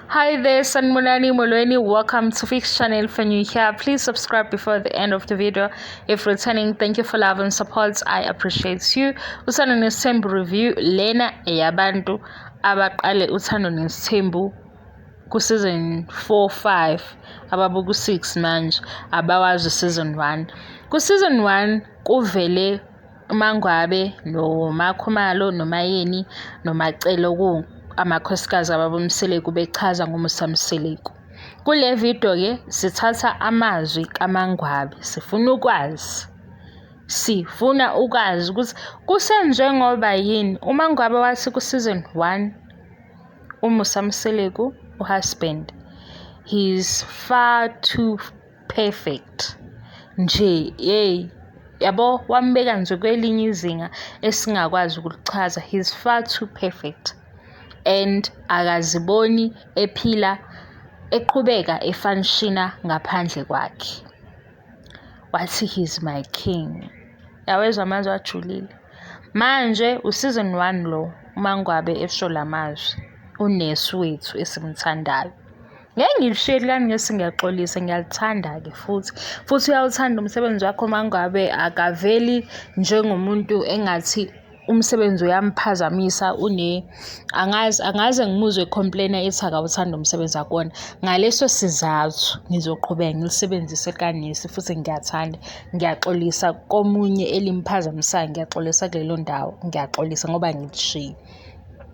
Hi there, Sanmunani Molweni. Welcome to Fix Channel for new here. Please subscribe before the end of the video. If returning, thank you for love and support. I appreciate you. Usana nesithembu review lena eyabantu abaqale uthando nesithembu ku season 4 5 ababuku 6 manje abawazi season 1. Ku season 1 kuvele UMaNgwabe noMaKhumalo noMayeni noMacele oku amakhosikazi ababoMseleku bechaza ngoMusa Mseleku. Kule video ke sithatha amazwi kaMaNgwabe sifuna ukwazi sifuna ukwazi ukuthi kusenziwe ngoba yini uMaNgwabe wathi ku season 1 uMusa Mseleku uhusband he's far too perfect nje yeyi yabo wambeka nje kwelinye izinga esingakwazi ukulichaza he's far too perfect and akaziboni ephila eqhubeka efanishina ngaphandle kwakhe wathi he's my king yawezwa amazwi ajulile manje useason one lo umangwabe esho la mazwi unesi wethu esimthandayo Ngeke ngilishiye lami ngesi ngiyaxolisa ngiyalithanda-ke futhi futhi uyawuthanda umsebenzi wakho uma ngabe akaveli njengomuntu engathi umsebenzi uyamphazamisa une angazi angaze ngimuzwe complainer ethi akawuthanda umsebenzi akona ngaleso sizathu ngizoqhubeka ngilisebenzise kanesi futhi ngiyathanda ngiyaxolisa komunye elimphazamisayo ngiyaxolisa kulelo ndawo ngiyaxolisa ngoba ngilishiye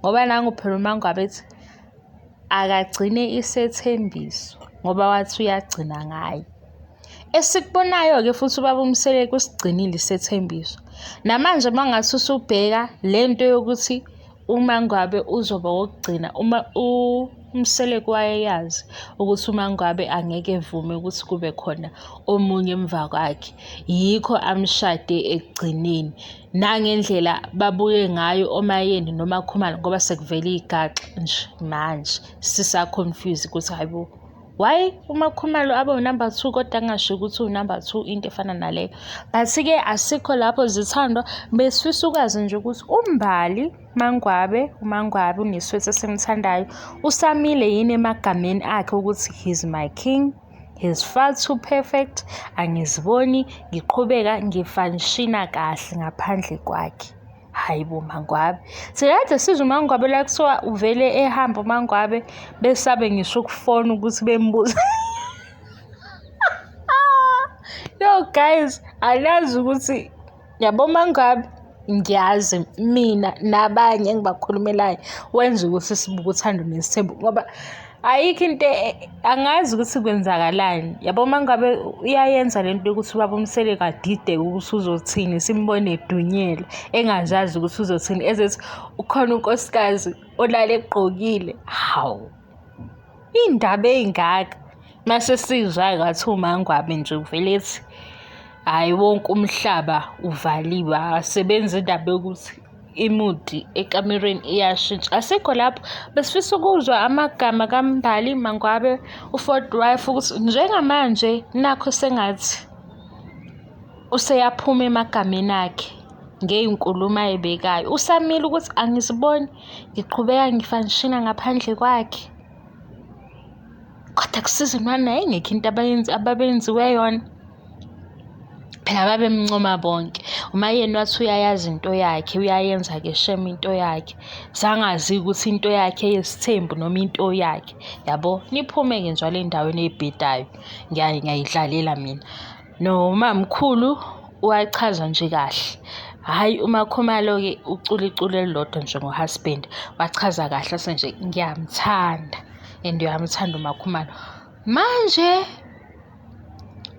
ngoba nangu phela umangwabe ethi akagcine isethembiso ngoba wathi uyagcina ngaye esikubonayo-ke futhi ubaba umseleku usigcinile isethembiso namanje uma ngathi usubheka le nto yokuthi umangwabe uzoba wokugcina uma umseleku wayeyazi ukuthi umangwabe angeke evume ukuthi kube khona omunye emva kwakhe yikho amshade ekugcineni nangendlela babuye ngayo omayeni noma khumalo ngoba sekuvele igaxa nje manje sisa-confuse ukuthi hayi bo why umakhumalo abe unumber two kodwa kungasho ukuthi unumber two into efana naleyo but-ke asikho lapho zithandwa besifisa ukwazi nje ukuthi umbali mangwabe umangwabe uneswethi esimthandayo usamile yini emagameni akhe ukuthi he's my king is far too perfect angiziboni ngiqhubeka ngifanishina kahle ngaphandle kwakhe hhayi bo mangwabe sikade sizwa umangwabe la kuthiwa uvele ehambe umangwabe besabe ngisho ukufona ukuthi bembuza yo guys anazi ukuthi Yabo uma ngabe ngiyazi mina nabanye engibakhulumelayo wenza ukuthi sibuke uthando nesithembu ngoba ayikho into e, e, angazi ukuthi kwenzakalani yabo uma ngabe uyayenza le nto yokuthi ubaba umsele kadideke ukuthi uzothini simbone edunyelwe engazazi ukuthi uzothini ezethi ukhona unkosikazi olale egqokile hawu Iy'ndaba ey'ngaka mase sizwa ngathi uMaNgwabe nje uvele ethi hhayi wonke umhlaba uvaliwe akasebenzi indaba yokuthi imudi ekamereni iyashintsha. Asikho lapho besifisa ukuzwa amagama kaMbali Mangwabe uForty Wife ukuthi njengamanje nakho sengathi useyaphuma emagameni akhe ngey'nkulumo ayibekayo. Usamile ukuthi angiziboni ngiqhubeka ngifanishina ngaphandle kwakhe kodwa kusiza umana yayingekho into abayenzi ababenziwe yona phela babemncoma bonke uma yena wathi uyayazi into yakhe uyayenza-ke shem into yakhe sangazi ukuthi into yakhe yesithembu noma into yakhe yabo niphume-ke njalo endaweni eyibhedayo ngiyayidlalela mina No mamkhulu wachaza nje kahle. Hhayi uMakhumalo-ke ucula iculo elilodwa nje ngohusband. Wachaza kahle ase nje ngiyamthanda and uyamthanda uMakhumalo. Manje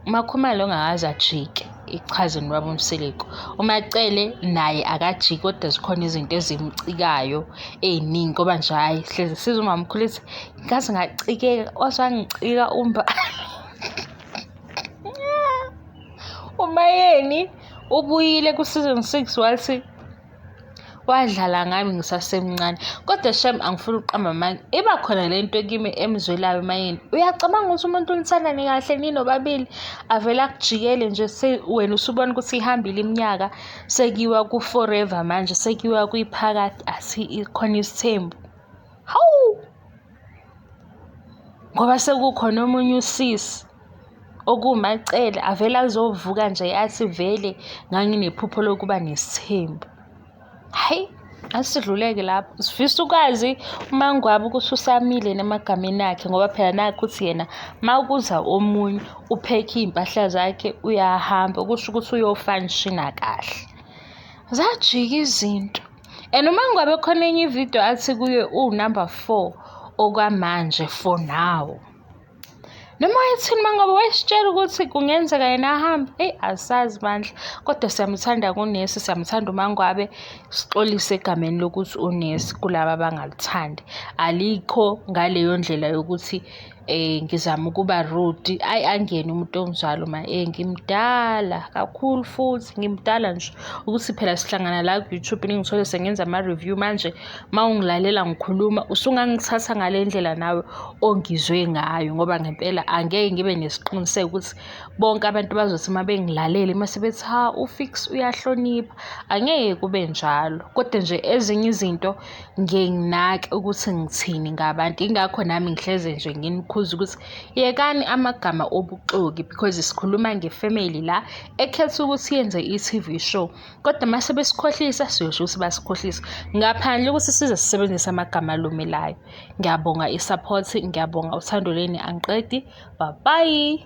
uMakhumalo ongakaze ajike ichaze nobaba uMseleku. UMacele naye akajiki kodwa zikhona izinto ezimcikayo ey'ningi ngoba nje hhayi hlezi siza umamkhulu ethi ngaze ngacikeka wase wangicika umbala. umayeni ubuyile ku-season six wathi wadlala ngami ngisasemncane kodwa shem angifuni ukuqamba amanga iba khona le nto kimi emzwelayo mayini uyacabanga ukuthi umuntu unithandani kahle ninobabili avele akujikele nje wena usubona ukuthi ihambile iminyaka sekiwa ku-forever manje sekiwa kwiphakathi asikhona isithembu hawu ngoba sekukhona omunye usisi okuwumacele avele azovuka nje athi vele nganginephupho lokuba nesithembu hhayi asidluleke lapho sifisa ukwazi uma ngwabe ukuthi usamile nemagameni akhe ngoba phela nakho ukuthi yena uma kuza omunye uphekhe iy'mpahla zakhe uyahamba kusho ukuthi uyofa nishina kahle zajika izinto and uma ngabe khona enye ividiyo athi kuye uwunumber four okwamanje for now noma wayethini uma ngabe wayesitshela ukuthi kungenzeka yena ahambe eyi asazi bandla kodwa siyamuthanda kunesi siyamuthanda umangwabe sixolise egameni lokuthi unesi kulaba abangaluthandi alikho ngaleyo ndlela yokuthi eh ngizama ukuba rude ayi angene umuntu ongizwalo ma eh ngimdala kakhulu futhi ngimdala nje ukuthi phela sihlangana la ku-youtube ningithole sengenza ama-review manje ma ungilalela ngikhuluma usungangithatha ngale ndlela nawe ongizwe ngayo ngoba ngempela angeke ngibe nesiqiniseko ukuthi bonke abantu bazothi uma bengilalele uma sebethi ha ufix uyahlonipha angeke kube njalo kodwa nje ezinye izinto ngiye nginake ukuthi ngithini ngabantu ingakho nami ngihleze nje nginikhuza ukuthi yekani amagama obuxoki because sikhuluma ngefamily la ekhetha ukuthi yenze i-TV show kodwa uma sebesikhohlisa siyosho ukuthi basikhohlisa ngaphandle ukuthi size sisebenzise amagama alumelayo ngiyabonga i-support ngiyabonga uthando leni angiqedi babayi